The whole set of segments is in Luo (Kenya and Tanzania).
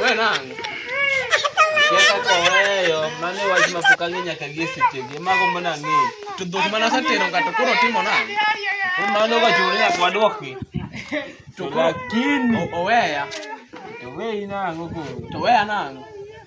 Wewe nangu. Yata kwa weyo, mami wajima pukangi nyakagie sichege, mago mbona ngi. Tudhuk mana sa tero kato kuro timo na. Umano kwa churi ya kwa doki. Lakini. Oweya. Oweya nangu kuro. Oweya nangu.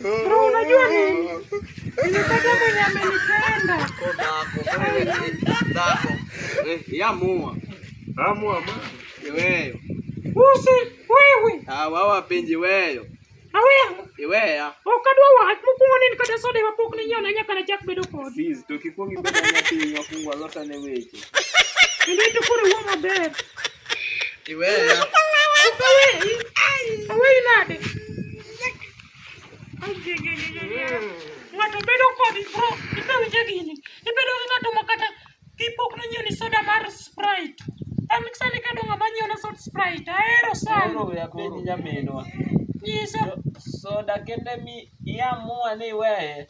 Bro, unajua nini? Nimepata mwenye amenipenda. Yamua. Amua ma. Iweyo. Usi wewe. Ah, wao wapenzi weyo. Aweya. Iweya. Okadwa wa mukuma nini kata soda ya pok ni nyona nyaka na chak bedo kod. Sis, to kikongi bedo nyati nyafungwa lota ne weche. Ndio tukuri wama ber. Iweya. Aweyi nade? Ng'ato bedo kodi bro, ibe winje gini. Ibedo gi ng'ato ma kata kipok nonyiew ni soda mar Sprite. An sani kado ng'ama nyiew na soda Sprite, ahero sana. Koro ya penj nyaminwa. Nyisa. Soda kende mi iamua ni iweye.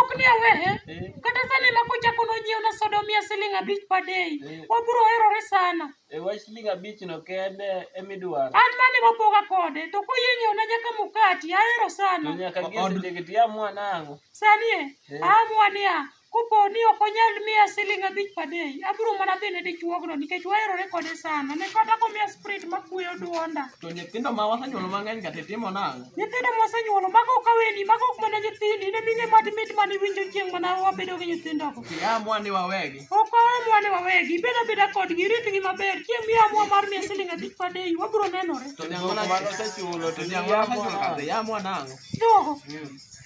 ok ni awehe eh. kata sani ma kochako nonyiew na soda omiya siling abich per day eh. wabiro herore sana e wach siling abich no kende emidwaro an mane wapoga kode to koyie nyiew na nyaka mukati ahero sana nyaka giesejegeti amua nang'o sani e eh. amua niya kopo ni ok onyal miya siling abich per day abiro mana dhi ne dichuogno nikech waherore kode sana ne kata komiya sprit makweyo duonda to nyithindo ma wasenyuolo mang'eny ka titimo nang'o Nyithindo mosenyuolo, mago ok aweni, mago ok mana nyithindi, ne mine mad mit mane iwinjo chieng' mana wabedo gi nyithindogo. Iamwa ni wawegi. Ok waamwa ni wawegi, ibed abeda kodgi, iritgi maber, chieng' miamwa mar miya siling' abich per day, wabiro nenore. To nyang' mana mano osechulo to nyang' mana osechulo kata iamwa nang'o? Jogo,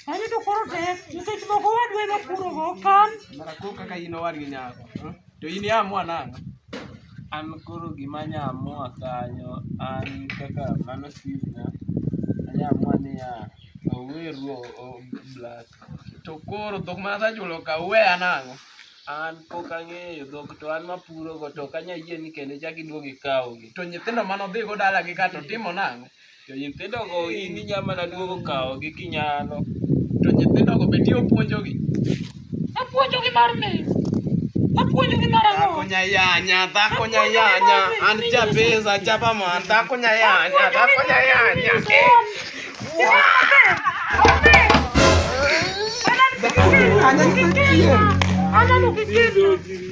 anito koro tek, nikech moko wadwa ema purogo, kan. Mara kok kaka in owadgi nyako. eh? To in iamua nang'o? An koro gima anya amua kanyo an kaka mano senior, anya amua niya, oweru oblas. To koro dhok ma asechulo ka uweya nang'o? An pok ang'eyo dhok to an mapurogo to ok anya yie ni kendo ichak iduog ikawgi. To nyithindo mane odhigo dalagi ka to timo nang'o? To nyithindogo in inya mana duogo kawogi kinyalo. To nyithindogo be ti opuonjogi? Apuonjogi mar me. Apuonjogi mar ang'o? Dhako nyayanya, dhako nyayanya, an jabeza, jabaman, dhako nyayanya, dhako nyayanya. Ananukikir. Ananukikir.